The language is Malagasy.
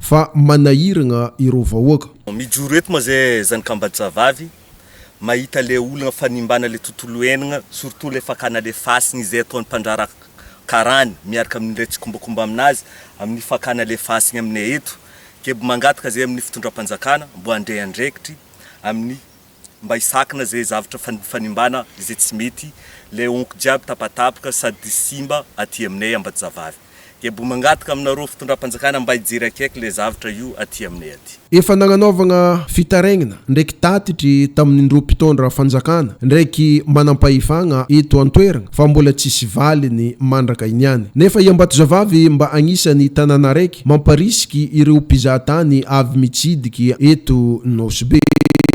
Fa manahiragna ireo vahoaka. Mijoro eto ma zay zany kamba javavy mahita le olana fanimbana le tontolo enagna surtout le fakana le fasiny izay ataony mpandrara karany miaraka aminy ndray tsikombakomba aminazy aminy fakana le fasiny aminay eto keb mangataka zay aminy fitondrampanjakana mbo handray andraikitry aminy mba hisakana izay zavatra fanimbana izay tsy mety, ilay honko jiaby tapatapaka sady simba aty aminay Ambatozavavy. Dia mbo mangataka aminareo fitondram-panjakana mba hijery akaiky ilay zavatra io aty aminay aty. Efa nagnanaovagna fitaraigna ndraiky tatitry tamin'indroa mpitondra fanjakana ndraiky manampahefagna eto an-toeragna fa mbola tsisy valiny mandraka iniany. Nefa i Ambatozavavy mba agnisan'ny tanàna araiky mamparisiky ireo mpizahatany avy mitsidiky eto Nosy Be.